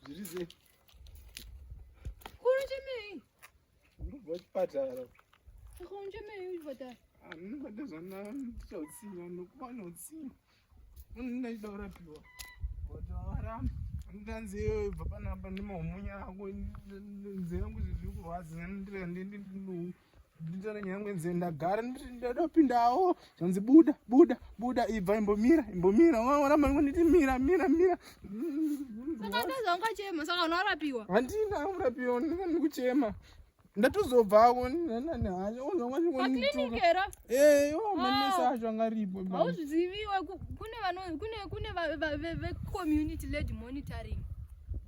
zviri sei kuri chemei ndobva chipatara kuri chemei uchipatara anobata zvandachautsinwa nokuvana utsinwa unodaida kurapiwa watawaramba ndanzi iyoyo bva panapa nemahumunya ako nzira yangu zvezviri kurwadza ndandira ndendinouku nditore nyangwe nze ndagara ndadopindawo zvanzi buda buda buda ibva imbomira imbomira waona mangu nditi mira mira mira saka ndozonga chema saka unorapiwa handina kurapiwa ndikani kuchema ndatozobva ako nanani hacho ozongaiklinikera ee o manesa ah. acho angaripo hauzviziviwe kune vano kune kune vecommunity led monitoring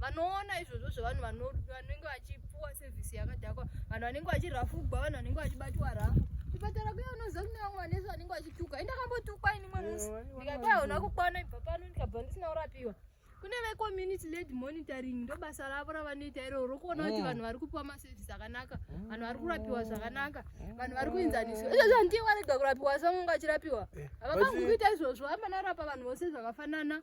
vanoona izvozvo zvevanhu vanenge vachipuwa sevhisi yakadhakwa vanhu vanenge vachirafugwa vanhu vanenge vachibatiwa rafu chipatara kuya unoziva kune vamwe vanese vanenge vachituka i ndakambotukwa ini mwe musi ndikati hauna kukwana ibva pano ndikabva ndisina kurapiwa kune vecommunity led monitoring ndobasa ravo ravanoita iroo rokuona kuti mm. vanhu vari kupiwa maservice akanaka mm. vanhu vari kurapiwa zvakanaka mm. vanhu vari kuinzaniswa izvozvo handiye warega kurapiwa samunga achirapiwa eh, havakangukuita izvozvo amanarapa vanhu vose zvakafanana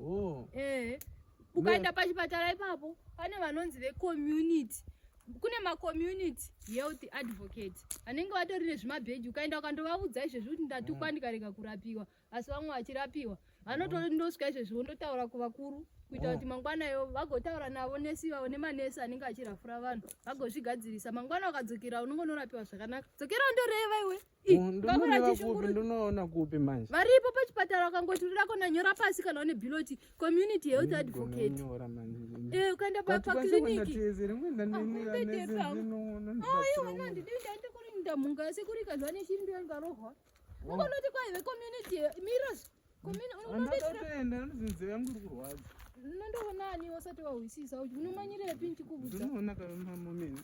Oh. Eh. Ukaenda pachipatara ipapo pane vanonzi vecommunity kune macommunity health advocate vanenge vatori nezvimabheji ukaenda ukandovaudza izvezvi kuti ndatukwa mm. ndikarega kurapiwa asi vamwe vachirapiwa vanotondosvika izvezvi vondotaura kuvakuru kuita oh. kuti mangwana yo vagotaura navo nesi vavo nemanesi anenge achirafura vanhu vagozvigadzirisa mangwana ukadzokera unongonorapiwa zvakanaka dzokera undoreva iwe ndinoona kupi manje varipo pachipatara ukangoti uri lako nanyora pasi kana une biloti community health advocate eh, ukaenda pakiliniki ndamunga asi kuri kazvane chiri ndiyo ngarohwa ukanoti kwaive community miros Ndatoenda ndinzi yangu iri kurwadza. Ndinondoona ani wasati wahwisisa kuti unomanyirepi ndichikuvudza. Ndinoona kana mama mene.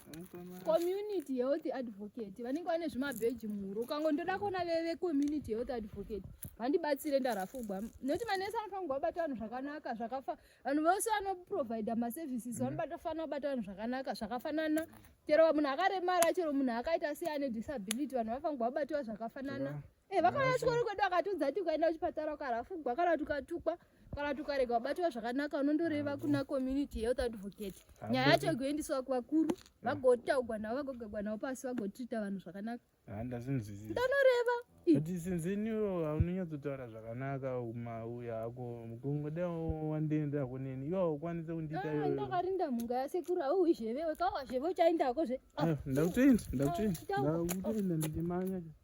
Community health advocate vanenge vane zvimabheji muhuro. Ukango ndoda kuona veve community health advocate. Vandibatsire ndarafugwa. Noti manesi anofanirwa kubata vanhu zvakanaka zvakafa. Vanhu vose vanoprovide ma services vanobata fana kubata vanhu zvakanaka zvakafanana. Chero munhu akaremara chero munhu akaita sei ane disability vanhu vanofanirwa kubatiwa zvakafanana. Eh, vakauya chikoro kwedu akatiudza kuti ukaenda kuchipatara ukarafugwa kana kuti ukatukwa kana kuti ukarega wabatwa zvakanaka unondoreva kuna community health advocate nyaya yacho igoendiswa kuvakuru vagotaugwa navo vagogagwa navo pasi vagotrita vanhu zvakanaka ah, ndanoreva kuti sinzi iniwo haunonyatsotaura zvakanaka umauya ako mukungoda wandiendera kuneni iwo haukwanise kundiita ah, iwe ndakarinda mhunga yasekuru hauwi zhevewe kawazheve uchaendako zve ah, ndakutoenda ndakutoenda ndakutoenda ndichimanya